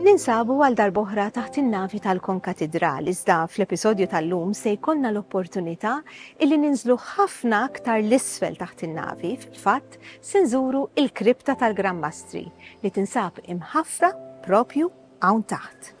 Ninsabu għal darb'oħra taħt in-navi tal-Konkatidral iżda fl-episodju tal-lum se jkollna l-opportunità illi ninżlu ħafna aktar 'l isfel taħt in-navi, fil-fatt se nżuru il-Kripta tal-Gran Mastri li tinsab imħaffra propju hawn taħt.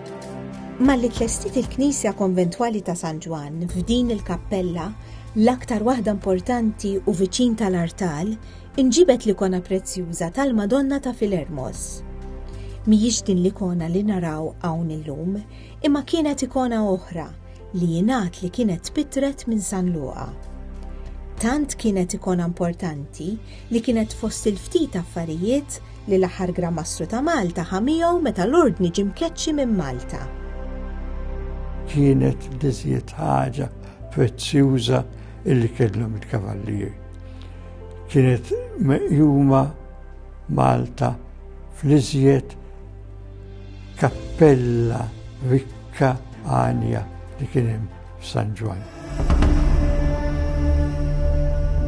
Malli tlestiet il-Knisja Konventwali ta' San Ġwann f'din il-kappella, l-aktar waħda importanti u viċin tal-artal, inġibet l-ikona prezzjuża tal-Madonna ta' Filermos. Mhijiex din l-ikona li naraw hawn illum, imma kienet ikona oħra li jingħad li kienet tpittret minn San Luqa. Tant kienet ikona importanti li kienet fost il-ftit affarijiet li l-aħħar Gran Mastru ta' Malta ħa miegħu meta l-Ordni ġie mkeċċi minn Malta. Kienet l-iżjed ħaġa prezzjuża illi kellhom il-kavallieri. Kienet meqjuma Malta fl-iżjed kappella rikka għanja li kien hemm f'San Ġwann.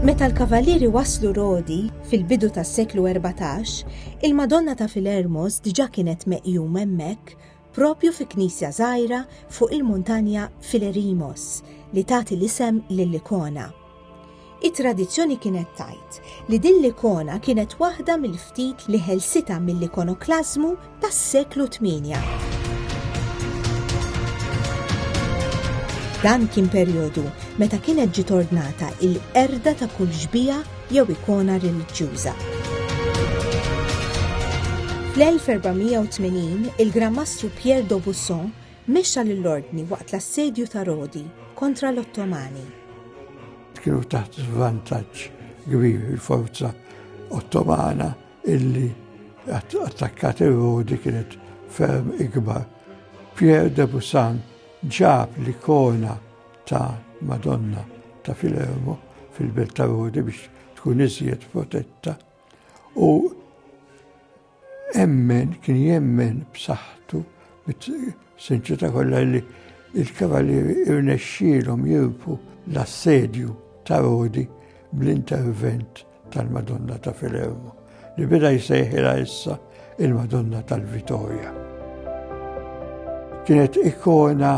Meta l-Kavalieri waslu Rodi fil-bidu tas-seklu 14, il-Madonna ta' Filermos diġà kienet meqjum hemmhekk propju fi knisja żgħira fuq il-muntanja Filerimos li tagħti l-isem lill-ikona. It-tradizzjoni kienet tgħid li din l-ikona kienet waħda mill-ftit li ħelsitha mill-ikonoklażmu tas-seklu 8. Dan kien perjodu meta kienet ġiet ordnata il-qerda ta' kull xbija jew ikona reliġjuża. Fl-1480 il-Gran Mastru Pierre d'Aubusson Mexxa lill-Ordni waqt l-assedju ta' Rodi kontra l-Ottomani. Kienu taħt żvantaġġ kbir il-forza Ottomana illi attakkat ir-Rodi kienet ferm ikbar. Pierre de Busan ġab l-ikona ta' Madonna ta' Filermo fil-belt ta' Rodi biex tkun iżjed protetta u Emmen, kien jemmen b'saħħtu, bit-sinċità kollha li il-Kavalieri irnexxielhom jirpu l-assedju ta' Rodi bl-intervent tal-Madonna ta' Filermo, li beda jsejħilha issa il-Madonna tal-Vitorja. Kienet ikona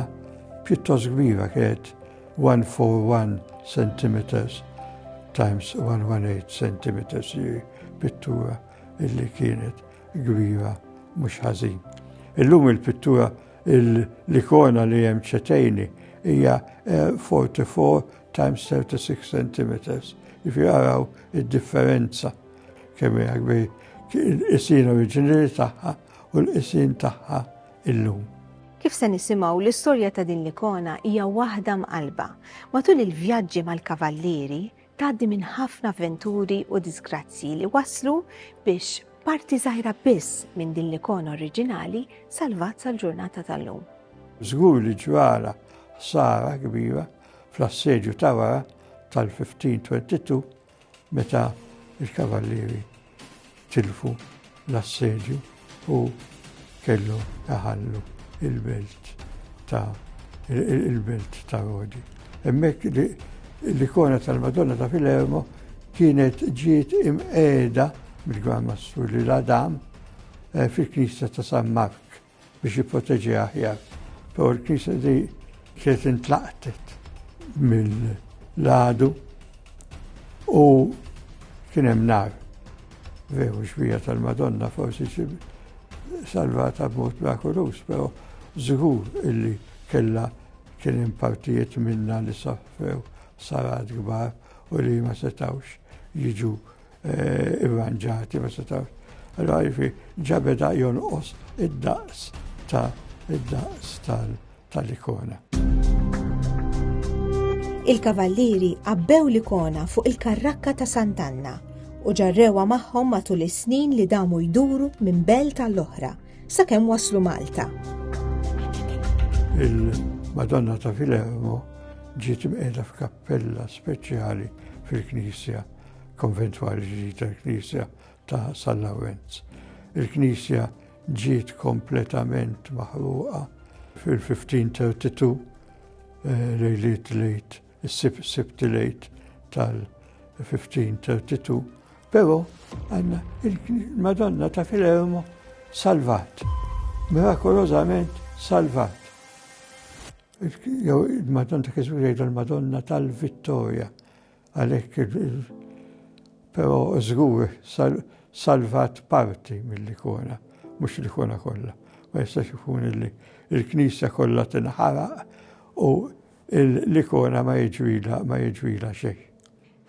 pjuttost kbira, kienet 141 cm times 118 cm pittura illi kienet kbira mhux ħażin. Illum il-pittura l-ikona li hemm ċetejni hija 44 eh, times 36 cm. Ifi għaraw id-differenza kemm hija kbir il-qisin oriġinali tagħha u l-qisin tagħha illum. Kif se nisimgħu l-istorja ta' din l-ikona hija waħda mqalba. Matul il-vjaġġi mal-kavallieri, tgħaddi minn ħafna avventuri u diżgrazzji li waslu biex parti żgħira biss minn din l-ikona oriġinali salvat sal-ġurnata tal-lum. Żgur li ġrala ħsara kbira fl-assedju ta' wara tal-1522 meta il-kavallieri tilfu l-assedju u kellu taħallu il-belt ta' il-belt ta' Rodi. Emmek l-ikona tal-Madonna ta' Filermo kienet ġiet imqeda mill-Gran Mastru li l-Adam eh, fil-Knisja ta' San Mark. biex jipproteġiha aħjar. Però l-Knisja di kienet intlaqtet mill-għadu u kien hemm nar. Veru xbija tal-Madonna forsi salvata b'mod mirakulus, però żgur illi kella kien hemm partijiet minna li sofrew sarat kbar u li ma setawx jiġu Eh, irranġati, ma setawx. Allora jifi ġabeda jonqos id-daqs ta' id-daqs tal-ikona. Il-kavallieri qabbew l-ikona fuq il-karrakka ta' Santanna u ġarrewa magħhom matul is-snin li damu jduru minn belt għall-oħra sakemm waslu Malta. Il-Madonna ta' Filermo ġiet imqiegħda f'kappella speċjali fil-Knisja Konventwali ġdid tal-Knisja ta' San Lawrenz. Il-Knisja ġiet kompletament maħruqa fil-1532 eh, lejliet lejt, is-sibt lejt tal-1532, pero għanna il-Madonna ta' Filermo salvat, mirakolozament salvat. Jew il-Madonna ta' Kisbu jgħid il-Madonna tal-Vittoria, Għalhekk però żgur salvat parti mill-ikona, mhux l-ikona kollha. Ma jistax ikun li l-knisja kollha tinħaraq u l-ikona ma jiġrilha xejn.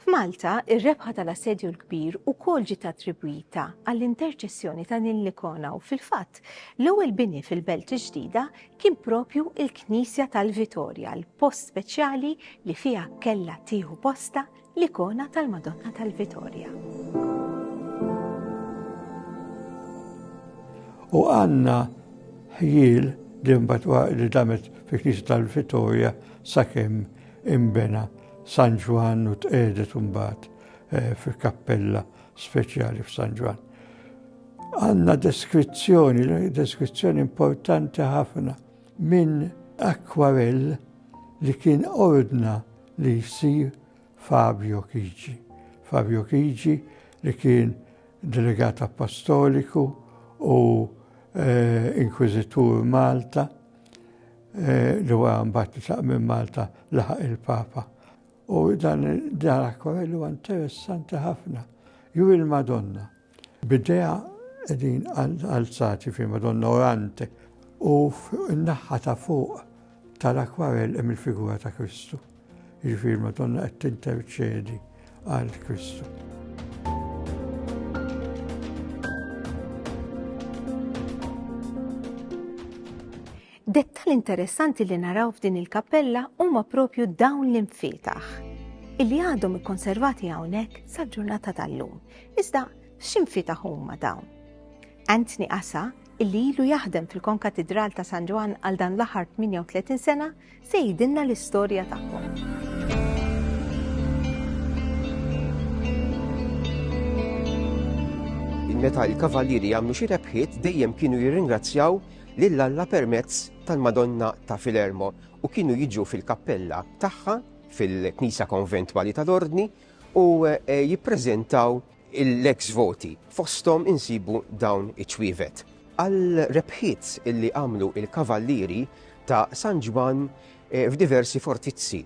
F'Malta, ir-rebħa tal-Assedju l-Kbir ukoll ġiet attribwita għall-interċessjoni ta' din l-ikona u, fil-fatt, l-ewwel bini fil-Belt il-Ġdida Kien proprju l-knisja tal-Vitorja l-post speċjali li fiha kellha tieħu postha l-ikona tal-Madonna tal-Vitorja. U għandna ħjiel li mbagħad li damet fi knisja tal-Vitorja sakemm imbena San Ġwann u tqedet mbagħad eh, fil-kappella speċjali f'San Ġwann. Għandna deskrizzjoni, deskrizzjoni importanti ħafna minn akwarell li kien ordna li jsir Fabio Kigi. Fabio Kigi li kien delegat apostoliku u eh, inkwizitur Malta eh, li huwa mbagħad li minn Malta laħaq il-Papa. U dan il-darakwel huwa interessanti ħafna. Ju il-Madonna. Bidea edin alzati fi Madonna orante u n-naħħa ta' fuq tal-akwarell hemm il-figura ta' Kristu. Jiġifieri Madonna qed tinterċedi għal Kristu. Dettall interessanti li naraw f'din il-kappella huma propju dawn l-infietaħ illi għadhom ikkonservati hawnhekk sal-ġurnata tal-lum. Iżda x'infietaħ huma dawn? Anthony Asa illi ilu jaħdem fil-Konkatidral ta' San Ġwan għal dan l-aħħar 38 sena se jidinna l-istorja tagħhom. Meta il-kavallieri jagħmlu xi rebħiet dejjem kienu jirringrazzjaw lil Alla permezz tal-Madonna ta' Filermo u kienu jiġu fil-kappella tagħha fil-Knisa Konventwali tal-Ordni u eh, jippreżentaw l-ex voti fosthom insibu dawn iċ-ċwievet. Għal rebħiet illi għamlu il-kavallieri ta' San Ġwann eh, f'diversi fortizzi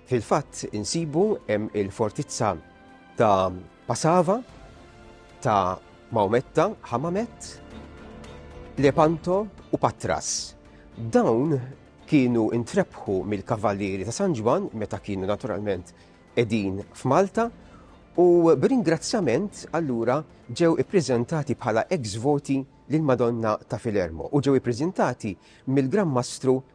Fil-fatt insibu hemm il-fortizza ta' Pasava, ta' Maometta, Hamamet, Lepanto u Patras. Dawn kienu intrebħu mill-Kavalieri ta' San Ġwann meta kienu naturalment qegħdin f'Malta u b'ringrazzjament allura ġew ippreżentati bħala ex voti lill-Madonna ta' Filermo u ġew ippreżentati mill-Gran Mastru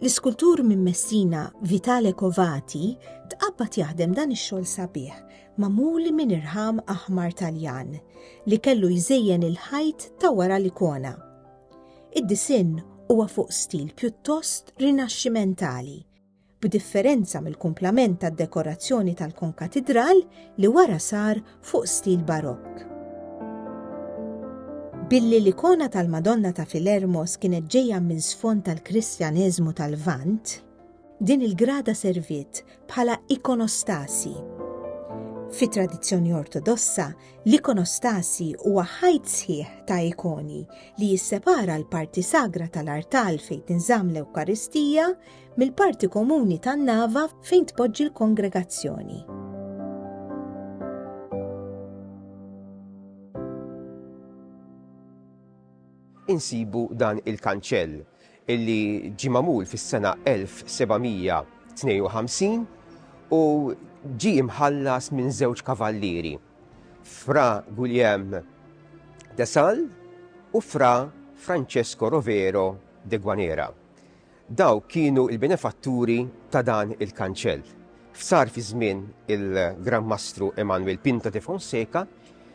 L-iskultur minn Messina Vitale Covati tqabbad jaħdem dan ix-xogħol sabiħ magħmul minn irħam aħmar Taljan li kellu jżejjen il-ħajt ta' wara l-ikona. Id-disinn huwa fuq stil pjuttost rinaxximentali, b'differenza mill-kumplament tad-dekorazzjoni tal-konkatidral li wara sar fuq stil Barokk. Billi l-ikona tal-Madonna ta' Filermos kienet ġejja minn sfond tal-Kristjaneżmu tal-Lvant, din il-grada serviet bħala ikonostasi. Fi tradizzjoni ortodossa, l-ikonostasi huwa ħajt sħiħ ta' ikoni li jissepara l-parti sagra tal-artal fejn tinżamm l-Ewkaristija mill-parti komuni tan-nava fejn tpoġġi l-kongregazzjoni. Insibu dan il-kanċell illi ġi mamul fis-sena 1752 u ġi imħallas minn żewġ kavallieri, Fra Guillem de Sal u Fra Francesco Rovero de Guanera. Dawk kienu l-benefatturi ta' dan il-kanċell. F'sar fi żmien il-Gran Mastru Emanuel Pinto de Fonseca,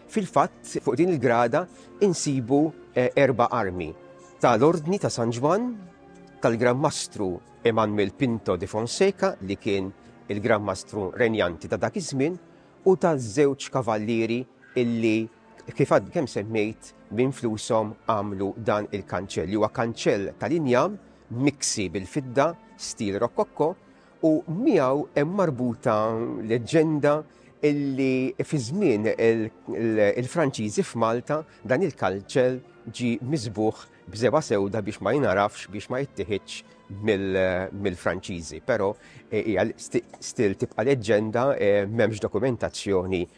fil-fatt fuq din il-grada insibu eh, erba' armi tal-Ordni ta' San Ġwann, tal-Gran Mastru Emanuel Pinto de Fonseca li kien il-Gran Mastru Renjanti ta' dak iż-żmien u taż-żewġ kavallieri illi kif għad kemm semmejt minn flushom għamlu dan il-kanċell. Huwa kanċell tal-injam miksi bil-fidda stil rokokko u miegħu hemm marbuta leġġenda illi fi żmien il-Franċiżi f'Malta dan il-kalċel ġi miżbuħ b'żeba sewda biex ma jinarafx biex ma jittiħiċ mill-Franċiżi, però eh, hija stil tibqa' leġġenda eh, m'hemmx dokumentazzjoni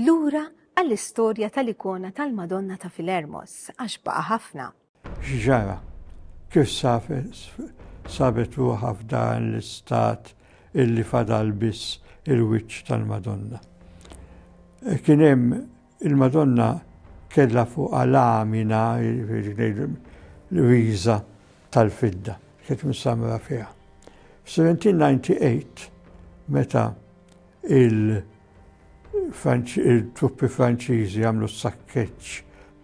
Lura għall-istorja tal-ikona tal-Madonna ta' Filermos, għax baqa' ħafna. X'ġara? Kif sabet ruħha f'dan l-istat illi fadal biss il-wiċċ tal-Madonna? Kien hemm il-Madonna kellha fuqha lamina, l-riża tal-fidda, kienet msamra fiha. F'Seventin Ninety Eight, meta il-truppi Franċiżi għamlu s-sakkeċ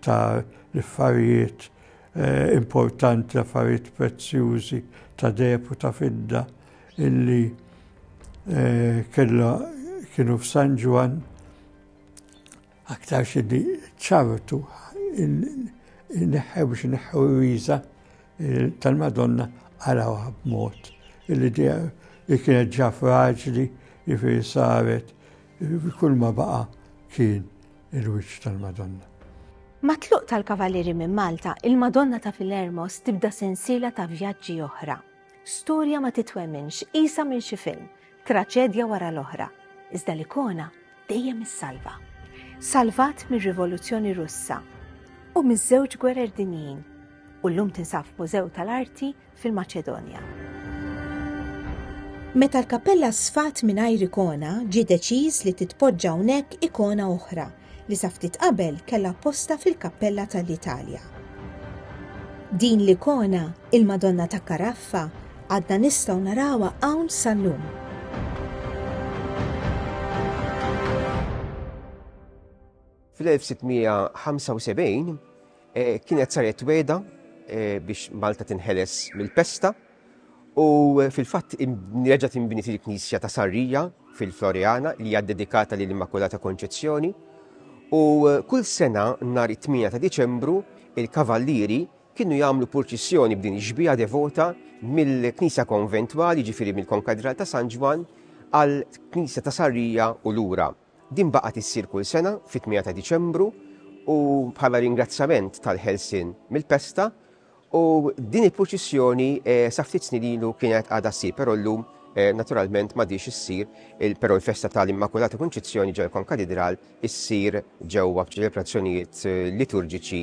ta' l-affarijiet eh, importanti, l-affarijiet prezzjużi ta' depu ta' fidda illi eh, kienu f'San Ġwan Aktarx li ċavtu neħħew biex neħħew il-wiża tal-Madonna għarawha b'mod illi dija li kienet ġa fraġli jifiri saret kull ma baqa kien il-wiċċ tal-Madonna. Matluq tal-Kavalieri minn Malta, il-Madonna ta' Filermos tibda sensiela ta' vjaġġi oħra. Storja ma titwemminx, qisha minn xi film, traċedja wara l-oħra, iżda l-ikona dejjem issalva. Salvat mir-Rivoluzzjoni Russa u miż-żewġ gwerer dinjin u llum tinsaf Mużew tal-Arti fil-Maċedonja. Meta l-kappella sfat mingħajr ikona, ġie deċiż li titpoġġa hawnhekk ikona oħra li sa ftit qabel kellha postha fil-kappella ta' l-Italja. Din l-ikona, il-Madonna ta' Caraffa, għadna nistgħu narawha hawn sal-lum. Fl-1675, Kienet saret wegħda biex Malta tinħeles mill-pesta u fil-fatt reġa' tinbniet il-knisja ta' Sarrija fil-Floreana li hija dedikata lil Immakulata Konċezzjoni u kull sena nhar it-8 ta' Diċembru il-kavallieri kienu jagħmlu purċissjoni b'din ix-xbieha devota mill-Knisja Konventwali ġifieri mill-Konkadral ta' San Ġwann għal Knisja ta' Sarrija u lura. Din baqgħet issir kull sena fit-tmiegħa ta' Diċembru u bħala ringrazzjament tal-ħelsien mill-pesta u din il-purċissjoni sa ftit snin ilu kienet għadha ssir però llum naturalment m'għadhiex issir però l-festa tal-Immakulata Kunċizzjoni ġewwa l-Konkatidral issir ġewwa b'ċelebrazzjonijiet liturġiċi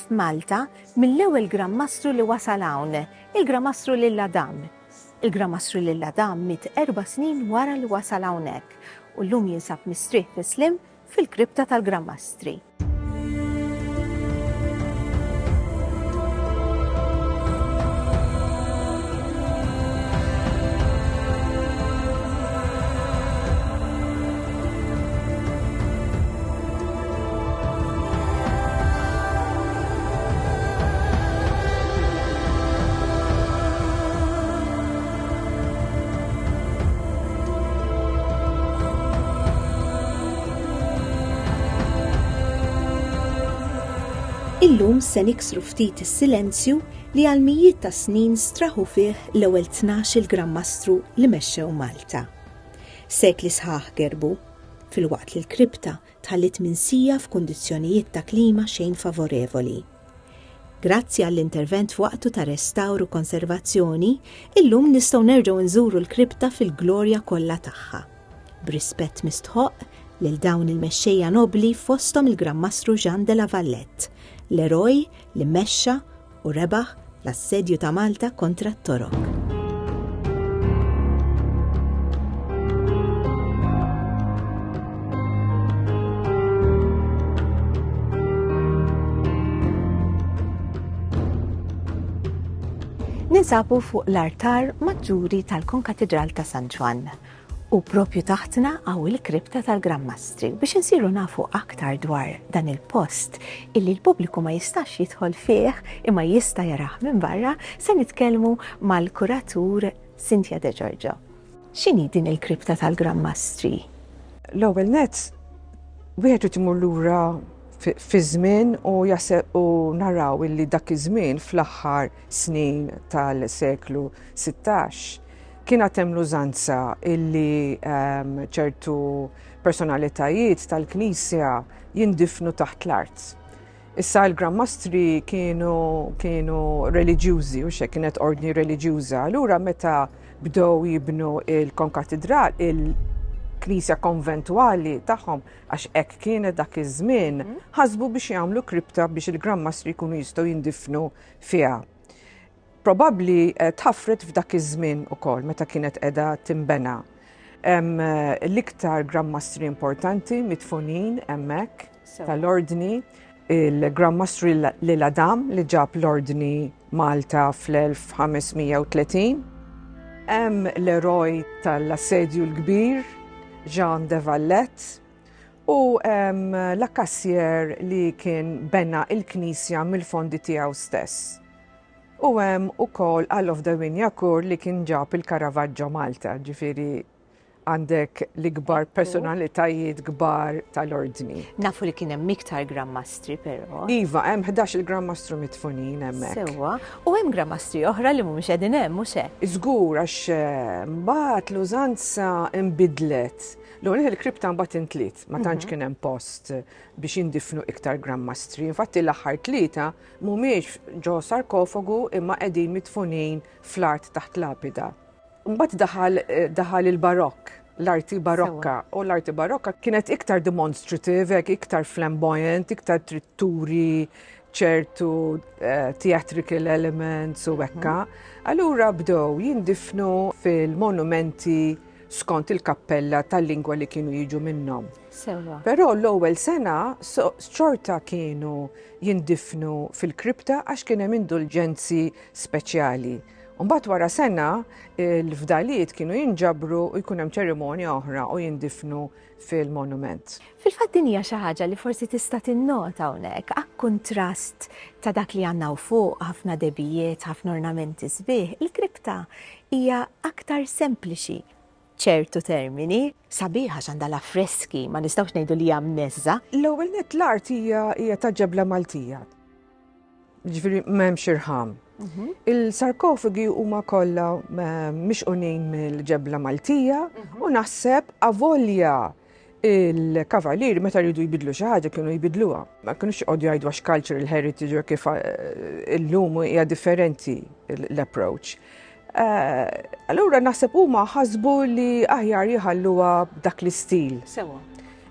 Malta mill-ewwel Gran Mastru li wasal hawn, il-Gran Mastru Lil Adam. Il-Gran Mastru Lil Adam miet erba' snin wara li wasal hawnhekk u llum jinsab mistrieħ fi sliem fil-Kripta tal-Gran Mastri. Illum se niksru ftit is-silenzju li għal mijiet ta' snin straħu fih l-ewwel tnax il Gran Mastru li mexxew Malta. Sekli sħaħ gerbu, fil-waqt li l-kripta tħalliet minsija f'kundizzjonijiet ta' klima xejn favorevoli. Grazzi għall-intervent f'waqtu ta' restawr u konservazzjoni, illum nistgħu nerġgħu nżuru l-kripta fil-glorja kollha tagħha. B'rispett mistħoqq lil dawn il-mexxejja nobbli fosthom il-Gran Mastru Jean de la Valette, l-eroj li mexxa u rebaħ l-assedju ta' Malta kontra t-Torok. ninsabu fuq l-artar maġġuri tal-Konkatedral ta' San Ġwann U propju taħtna hawn il-kripta tal-Gran Mastri. Biex insiru nafu aktar dwar dan il-post illi l-pubbliku ma jistax jidħol fih imma jista' jarah minn barra, se nitkellmu mal-kuratur Cynthia De Giorgio. X'inhi din il-kripta tal-Gran Mastri? L-ewwel net, wieħed irid imur lura fi żmien u jaseb u naraw illi dak iż-żmien fl-aħħar snin tal-seklu 16 Kien għad hemm l-użanza illi ehm, ċertu personalitajiet tal-Knisja jindifnu taħt l-art. Issa l-Grand Mastri kienu, kienu reliġjużi, u xe kienet ordni reliġjuża. Allura meta bdew jibnu il-konkatidral, il-knisja konventuali tagħhom, għax hekk kienet dak iż-żmien, mhm. ħasbu biex jagħmlu kripta biex il-Grand Mastri jkunu jistgħu jindifnu fiha. Probabbli tħaffret f'dak iż-żmien ukoll meta kienet qiegħda tinbena. Hemm l-iktar Granmastri importanti midfunin hemmhekk tal-Ordni, il-Granmastru Lil Adam li ġab l-Ordni Malta fl-1530. Hemm l-eroj tal-Assedju l-Kbir, Jean de Valette, u hemm l-akkassjer li kien bena l-knisja mill-fondi tiegħu stess. U hemm ukoll għal of the Win Yakur li kien ġab il-Caravaggio Malta, ġifieri għandek l-ikbar personalitajiet kbar tal-ordni. Nafu li kien hemm iktar grammastri però. Iva, hemm 11 il-grammastru mitfunin hemmhekk. Sewwa, u hemm grammastri oħra li mhumiex qegħdin hemm mhux hekk. Żgur għax eh, mbagħad l-użanza nbidlet. L-ewwel il-kripta mbagħad intliet, ma tantx mhm. kien hemm post biex indifnu iktar grammastri. Infatti l-aħħar tlieta Mhumiex ġo sarkofagu imma qegħdin midfunin fl-art taħt lapida. Mbagħad daħal daħal il-Barokk, l-arti Barokka, u l-arti Barokka kienet iktar demonstrative, hekk iktar flamboyant, iktar trid turi ċertu eh, theatrical elements u hekka. Allura bdew jindifnu fil-monumenti skont il-kappella tal-lingwa li kienu jiġu minnhom. Sewwa. Però l-ewwel sena xorta kienu jindifnu fil-kripta għax kien hemm indulġenzi speċjali. U mbagħad wara sena l-fdalijiet kienu jinġabru u jkun hemm ċerimonja oħra u jindifnu fil-monument. Fil-fatt din hija xi ħaġa li forsi tista' tinnota hawnhekk, akkuntrast ta' dak li għandna u fuq ħafna debijiet, ħafna ornamenti sbieħ, il-kripta hija aktar sempliċi. ċertu termini. Sabiħ għax għandha l-affreski, ma nistgħux ngħidu li hija mneżża'. L-ewwel nett l-art hija hija ta' ġebla Maltija. Ġifieri m'hemmx irħam. Mhm. Il-sarkofagi huma kollha eh, mixqunin mill-ġebla Maltija mhm. u naħseb avolja il-kavalieri meta rridu jbidlu xi ħaġa kienu jbidluha. Ma kienux joqgħodu jgħidu għax cultural heritage kif eh, illum hija differenti l-approach. Eh, allura naħseb huma ħasbu li aħjar jħalluha dak l-istil. Sewa.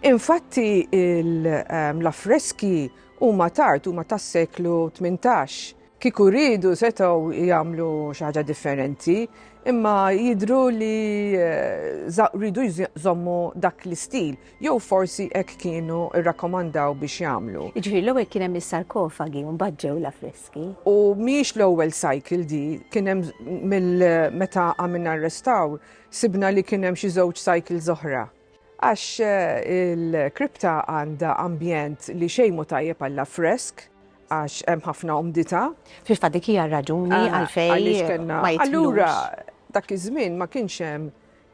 Infatti ehm, l-affreski huma tard huma tas-seklu 18. Kieku riedu setgħu jagħmlu xi ħaġa differenti, imma jidhru li eh, rridu jżommu dak l-istil, jew forsi hekk kienu rrakkomandaw biex jagħmlu. Jiġifieri l-ewwel kien hemm is-sarkofagi u mbagħad ġew l-affreski. U mhijiex l-ewwel cycle di, kien hemm mill-meta għamilna r-restawr, sibna li kien hemm xi żewġ cycles oħra. Għax il-kripta għandha ambjent li xejn mhu tajjeb għall-affresk, għax hemm ħafna umdità. Fil-fatt dik hija r-raġuni għalfejn ma jitlux. Allura dak iż-żmien ma kienx hemm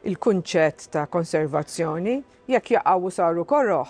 il-kunċett ta' konservazzjoni, jekk jaqgħu saru koroh,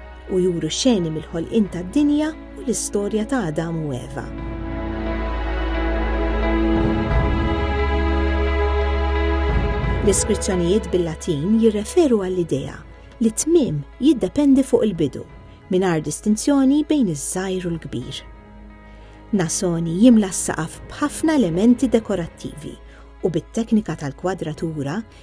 u juru xeni mill-ħolqien tad-dinja u l-istorja ta' Adam u Eva. L-iskrizzjonijiet bil-Latin jirreferu għall-idea li tmiem jiddependi fuq il-bidu, mingħajr distinzjoni bejn iż-żgħir u l-kbir. Nasoni jimla s-saqaf b'ħafna elementi dekorattivi u bit-teknika tal-kwadratura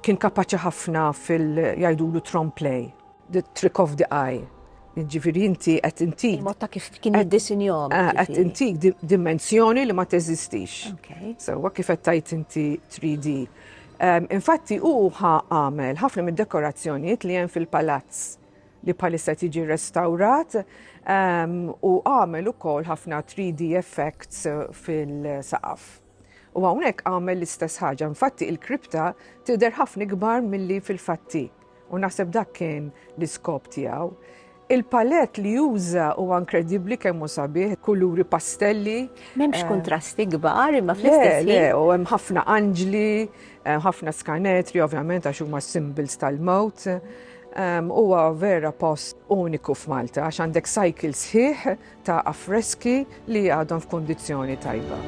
Kien kapaċi ħafna fil jgħidulu trompe l'oeil. The trick of the eye. Jiġifieri inti qed intik. Il-mod ta' kif kien jiddisinjahom. Eh, qed jiġifieri. intik dimensjoni li ma teżistix. Sewwa kif qed tgħid inti 3D. Ehm, infatti hu għamel ħafna mid-dekorazzjonijiet li hemm fil-palazz li bħalissa tiġi restaurat ehm, u għamel ukoll ħafna 3D effects fil-saqaf. U hawnhekk għamel l-istess ħaġa, infatti il-kripta tidher ħafna ikbar milli fil-fatti. U naħseb dak kien l-iskop tiegħu. Il-palett li juża huwa inkredibbli kemm hu sabiħ, kuluri pastelli. M'hemmx eh, kontrasti kbar imma fl-istess Le, u hemm ħafna anġli, eh, ħafna skanetri ovvjament għax huma symbols tal-mewt. Huwa vera post uniku f'Malta għax għandek cycle sħiħ ta' affreski li għadhom f'kundizzjoni tajba.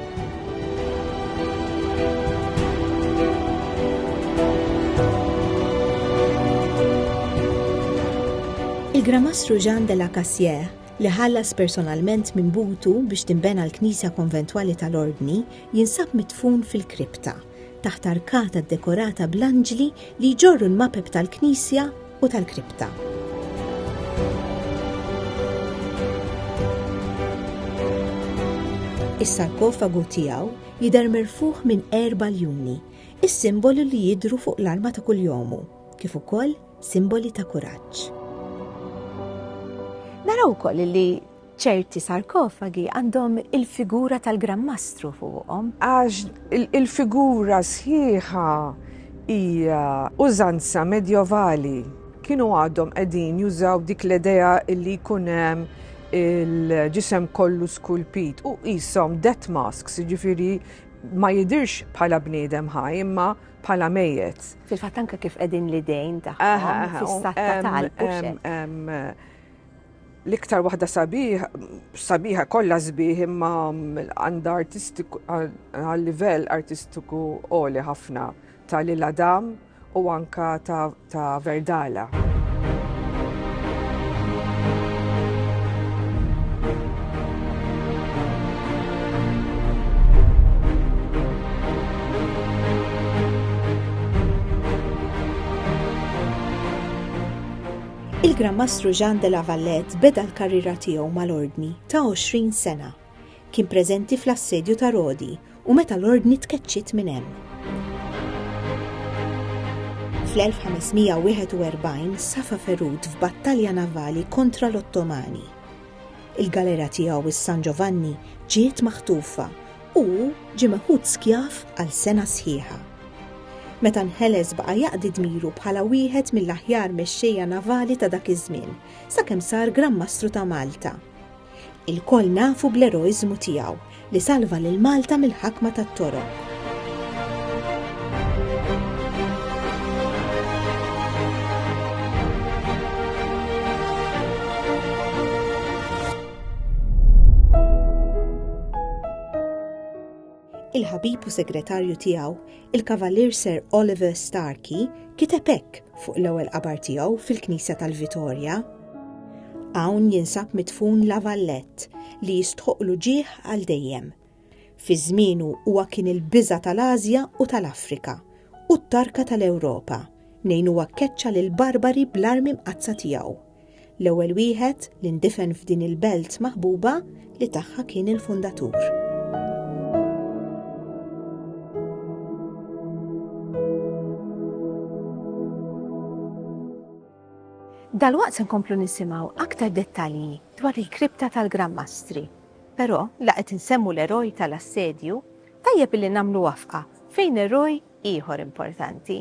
Il-Gramastru Jean de la Cassière, li ħallas personalment minn butu biex timbena l-Knisja Konventwali tal-Ordni, jinsab mitfun fil-kripta. taħt arkata ddekorata bl-anġli li jġorru l-mapep tal-knisja u tal-kripta. Is-sarkofagu tiegħu jidher merfuħ minn erba ljuni, is-simbolu li jidru fuq l-arma ta' kuljomu, kif ukoll simboli ta' kuraġġ. Naraw ukoll li Ċerti sarkofagi għandhom il-figura tal-Gran Mastru fuqhom. Għax il-figura sħiħa hija użanza medjovali. Kienu għadhom qegħdin jużaw dik l-idea li jkun hemm il-ġisem kollu skulpit u qishom death masks, jiġifieri ma jidirx bħala bniedem ħaj imma bħala mejjet. Fil-fatt anke kif qegħdin l-idejn tagħhom fis-satta tal L-iktar waħda sabiħa, sabiħa kollha sbieħ imma għandha artistiku għal livell artistiku għoli ħafna ta' Lil Adam u anka ta', ta Verdala. Il-Gran Mastru Jean de la Valette beda l-karriera tiegħu mal-Ordni ta' 20 sena. Kien preżenti fl-Assedju ta' Rodi u meta l-Ordni tkeċċiet minn hemm. Fl-1541 safa ferut f'battalja navali kontra l-Ottomani. Il-galera tiegħu s-San Ġovanni ġiet maħtufa Hu ġie meħud skjav għal sena sħiħa. Meta nħeles baqa' jaqdi dmiru bħala wieħed mill-aħjar mexxejja navali ta' dak iż-żmien, sakemm sar Gran Mastru ta' Malta. Ilkoll nafu bl-eroiżmu tiegħu li salva lil Malta mill-ħakma tat-Toro. il-ħabib u segretarju tiegħu, il-Kavalier Sir Oliver Starkey, kiteb hekk fuq l-ewwel qabar tiegħu fil-Knisja tal-Vitorja. Hawn jinsab mitfun la vallett li jistħoqlu ġieħ għal dejjem. Fi żmienu huwa kien il-biża tal-Asja u tal-Afrika u t-tarka tal-Ewropa, mnejn huwa keċċa lil barbari bl-armi mqazza tiegħu. l-ewwel wieħed li ndifen f'din il-belt maħbuba li tagħha kien il-fundatur. Dalwaqt se nkomplu nisimgħu aktar dettalji dwar il-kripta tal-Gran Mastri. Però la qed insemmu l-eroj tal-assedju, tajjeb li nagħmlu wafqa fejn eroj ieħor importanti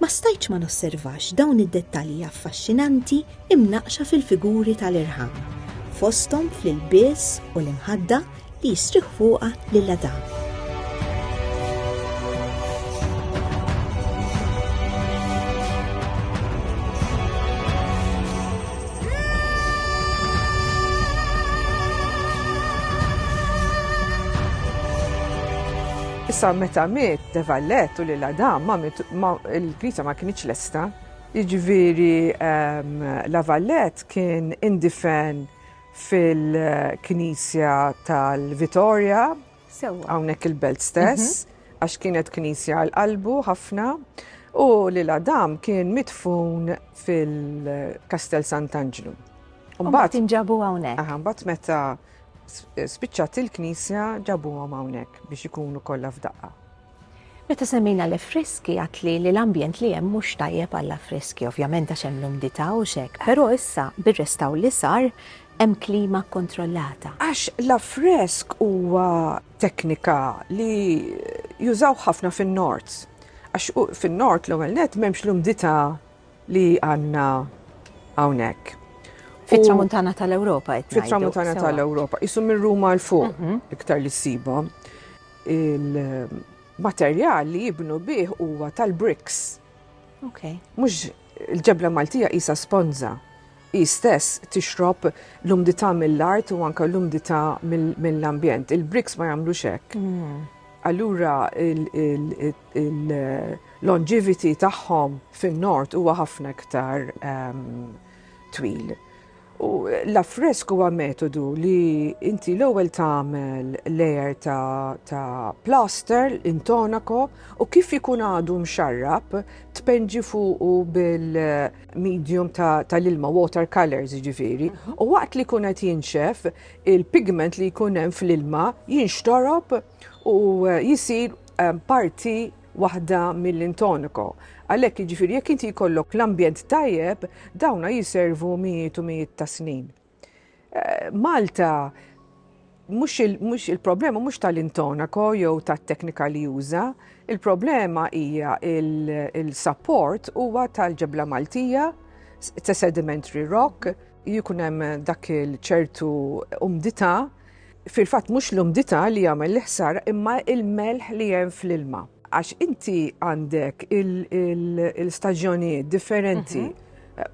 Ma stajtx ma nosservax dawn id-dettalji affaxxinanti imnaqqxa fil-figuri tal-irħam, fosthom fl-ilbies u l-imħadda li jistrieħ fuqha lil Adam. Issa meta miet De Vallet u lil Adam ma miet ma il-Knisja ma kinitx lesta. Jiġifieri ehm, La Vallet kien indifen fil-Knisja tal-Vitorja, Sewwa. hawnhekk il-belt stess, għax kienet Knisja għal qalbu ħafna, u lil Adam kien midfun fil-Kastell Sant'Anġlu. U mbagħad inġabu hawnhekk. Aha, mbagħad meta hekk. Spiċċat il-knisja ġabuhom hawnhekk biex ikunu kollha f'daqqa. Meta semmejna l-affreski għatli li l-ambjent li hemm mhux tajjeb għall-affreski, ovvjament għax hemm l-umdità u x'hekk, però issa bir-restawr li sar hemm klima kkontrollata. Għax l-affresk huwa teknika li jużaw ħafna fin-Nord. Għax fin-Nord l-ewwel nett m'hemmx l-umdità li għandna hawnhekk. Fit-tramuntana tal-Ewropa qed Fit-tramuntana tal-Ewropa, isu minn Ruma l fuq mhm. iktar li ssibhom. Il-materjal li jibnu bih huwa tal-bricks. Ok. Mhux il-ġebla Maltija isa sponza. I stess tixrob l-umdità mill-art u anke l-umdità mill-ambjent. Il-bricks ma jagħmlux hekk. Mm. Allura il-longevity tagħhom fin-Nord huwa ħafna iktar twil. U l-affresk huwa metodu li inti l-ewwel tagħmel layer ta', ta plaster intonako u kif ikun għadu mxarrab tpenġi fuqu bil-medium tal-ilma ta water colors ġifiri. Mhm. U waqt li kun qed jinxef il-pigment li jkun hemm fl-ilma jinxtorob u jisir parti waħda mill-intoniko. Għalhekk jiġifieri jekk inti jkollok l-ambjent tajjeb, dawna jiservu mijiet u mijiet ta' snin. Eh, Malta mhux il-problema mhux tal-intonako jew tat-teknika li juża, il-problema hija il-support huwa tal-ġebla Maltija, ta' sedimentary rock, Jkun hemm dak il-ċertu umdità, fil-fatt mhux l-umdità li jagħmel l-ħsar imma il-melħ li hemm fl-ilma. Għax inti għandek il-staġjonijiet differenti. Mhm.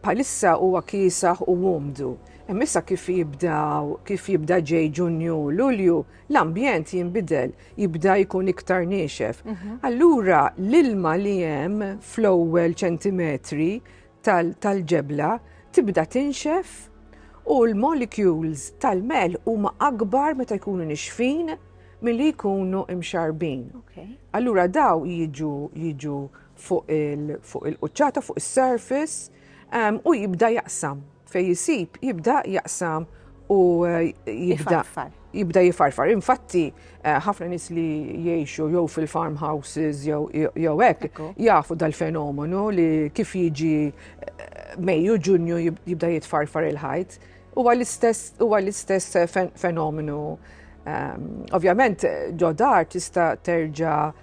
Palissa huwa kiesaħ u umdu. Emissa kif jibdaw, kif jibda ġej ġunju, lulju, l-ambjent jimbidel, jibda jkun iktar niexef. Mhm. Allura l-ilma li hemm fl-ewwel ċentimetri tal-ġebla tibda tinxef u l-molecules tal-mel huma akbar meta jkunu nixfin milli jkunu imxarbin. Allura daw jiġu jiġu fuq il-quċċata, fuq is-surface u jibda jaqsam. Fej jisib jibda jaqsam u eh, jibda. jibda jifarfar. Infatti, eh, ħafna nis li jiexu jew fil-farmhouses jew hekk jafu dal-fenomenu li kif jiġi eh, Mejju Ġunju jibda jitfarfar il-ħajt. Huwa l-istess eh, fenomenu. Ehm, ovvjament, ġodar tista' terġa'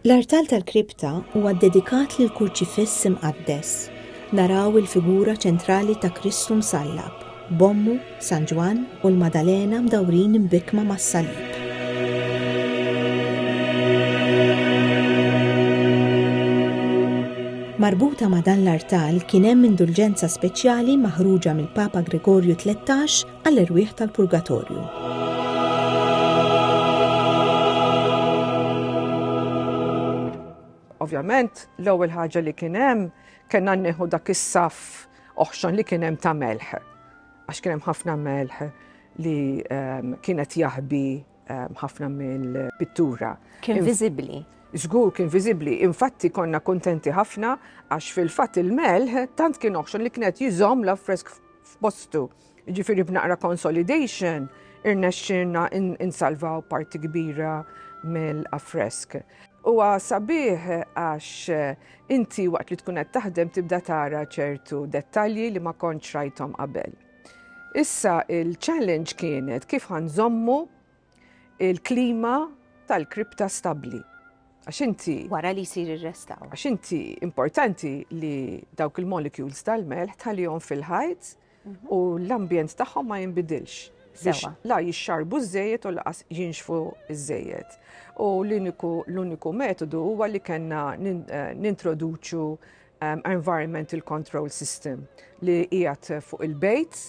L-artal tal-kripta huwa ddedikat lill-Kurċifiss Imqaddes. Naraw il-figura ċentrali ta' Kristu msallab, b'ommu, San Ġwann, u l-Maddalena mdawrin imbikkma mas-salib. Marbuta ma' dan l-artal kien hemm indulġenza speċjali maħruġa mill-Papa Gregorju Tlettax għall-erwieħ tal-purgatorju. Ovvjament, l-ewwel ħaġa li kien hemm kellna nieħu dak is-saf oħxon li kien hemm ta' melħ. Għax kien hemm ħafna melħ li ehm, kienet jaħbi ehm, ħafna mill-pittura. Kien viżibbli. Żgur kien viżibbli. Infatti konna kontenti ħafna għax fil-fatt il-melħ tant kien oħxon li kienet jiżomm l-affresk f'postu. Jiġifieri b'naqra consolidation irnexxielna insalvaw parti kbira mill-affresk. Huwa sabiħ għax inti waqt li tkun qed taħdem tibda tara ċertu dettalji li ma kontx rajthom qabel. Issa il-challenge kienet kif ħa nżommu il-klima tal-kripta stabbli. Għax inti. Wara li jsir ir-restawr. Għax inti importanti li dawk il-molecules tal-melħ tħallihom fil-ħajt u l-ambjent tagħhom ma jinbidilx biex la jixxarbu żejjed u laqas jinxfu żejjed. U l-uniku metodu huwa li kellna eh, nintroduċu um, environmental control system li qiegħed fuq il-bejt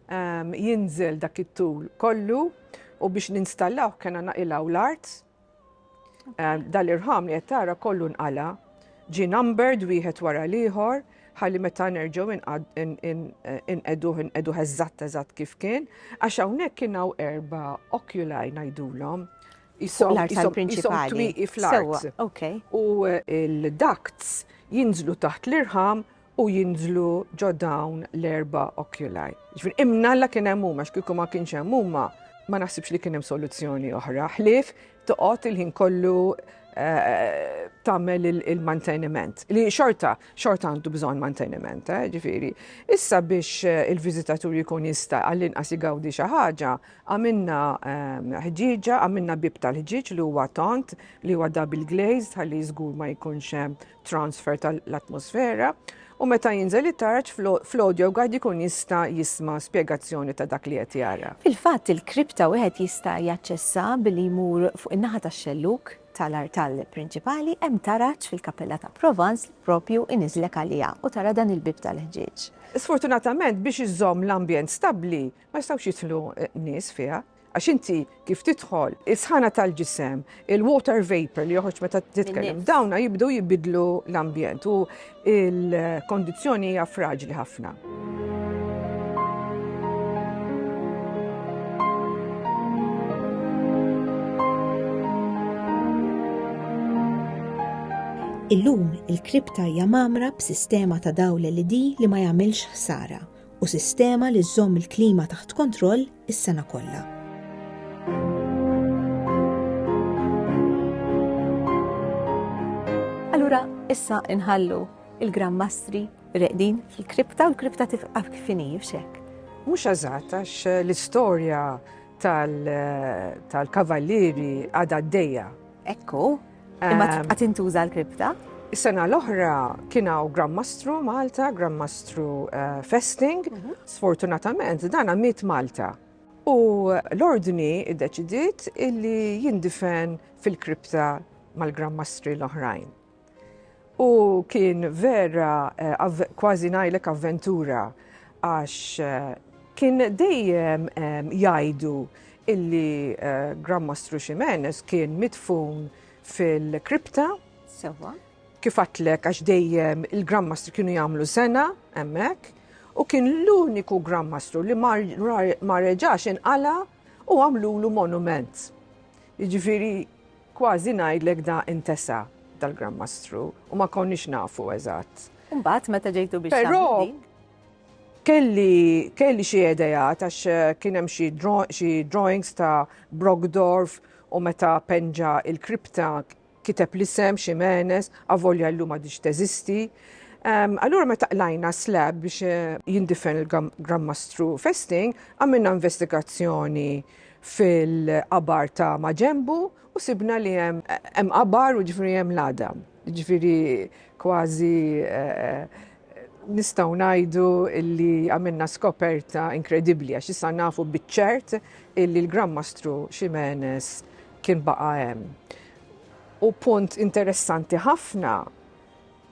um, jinżel dak it-tul kollu u biex ninstallaw kena naqilaw l-art Dal-irħam li qed tara kollu nqala, ġi numbered wieħed wara l-ieħor, ħalli meta nerġgħu inqeduh inqeduh eżatt eżatt kif kien, għax hawnhekk kien hawn erba' oculai ngħidulhom. Isom twieqi fl-art. U l-ducts jinżlu taħt l-irħam u jinżlu ġo dawn l-erba' oculi. Ġifieri imnalla kien hemm huma x'kieku ma kienx hemm huma ma naħsibx li kien hemm soluzzjoni oħra ħlief toqgħod il-ħin kollu Eh, tagħmel il-manteniment. Li xorta, xorta għandu bżonn manteniment, eh, ġifieri. Issa biex eh, il-viżitatur jkun jista' għall-inqas igawdi xi ħaġa, għamilna ehm, ħġieġa, għamilna bib tal-ħġieġ li huwa tont, li huwa double glazed, ħalli żgur ma jkunx transfer tal-atmosfera u meta jinżel it-tarġ fl-audio guide ikun jista' jisma' spjegazzjoni ta' dak li qed jara. Fil-fatt, il-kripta wieħed jista' jaċċessa billi jmur fuq in-naħa tax-xellug tal-artal prinċipali, hemm taraġ fil-Kappella ta' Provence li proprju iniżżlek għaliha u tara dan il-bieb tal-ħġieġ. Sfortunatament, biex iżżomm l-ambjent stabbli, ma jistgħux jidħlu nies fiha. Għax inti kif tidħol, is-sħana tal-ġisem, il-water vapor li joħroġ meta titkellem, dawna jibdu jibidlu l-ambjent u il-kondizzjoni hija fraġli ħafna. Illum il-kripta hija mamra b'sistema ta' dawl LED li ma jagħmilx ħsara u sistema li żżomm il-klima taħt kontroll is-sena kollha. Allura issa inħallu il-Gran Mastri reqdin fil-kripta u l-kripta tifqaf kif inhi xek. Mhux eżatt għax l-istorja tal-kavallieri għadha d-dejja. Ekku, Imma ehm, tibqa' tintuża l-kripta? Is-sena l-oħra kien hawn Grandmastru Malta, Grandmastru eh, Festing. Mhm. Sfortunatament dan miet Malta. U l-ordni iddeċidiet illi jindifen fil-kripta mal-Grandmastri l-oħrajn. U kien vera kważi ngħidlek avventura għax kien dejjem jgħidu illi Gran Mastru Ximenes kien midfun fil-kripta. Sewa. Kif għatlek għax dejjem il-Gran Mastru kienu jagħmlu sena hemmhekk u kien l-uniku Gran Mastru li ma reġax inqala' u għamlulu monument. Jiġifieri Kważi ngħidlek da intesa dal-Gran Mastru u ma konniex nafu eżatt. Mbagħad meta ġejtu biex Però kelli kelli xi idejat għax eh, kien hemm xi drawings ta' Brogdorf u meta penġa il-kripta kiteb l-isem Ximenes, avolja l-lum għadix teżisti. Allura meta qlajna slab biex eh, jindifen il-Gran Mastru Festing, għamilna investigazzjoni fil-qabar ta' maġenbu u sibna li hemm hemm qabar u ġifieri hemm l-għadam. Ġifieri kważi nistgħu ngħidu li għamilna skoperta inkredibbli għax issa nafu biċ-ċert illi l-Gran Mastru Ximenes kien baqa' hemm. U punt interessanti ħafna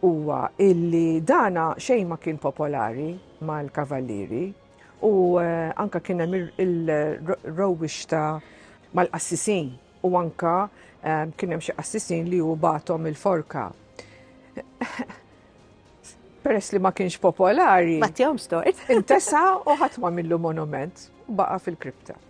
huwa illi dana xejn ma kien popolari mal-Kavallieri, U anka kien hemm il-rowwix ta' mal-qassisin u anka ehm, kien hemm xi qassisin li hu batom il-forka. Peress li ma kienx popolari. Battihom stort. Intesa u ħadd ma millu monument baqa' fil-kripta.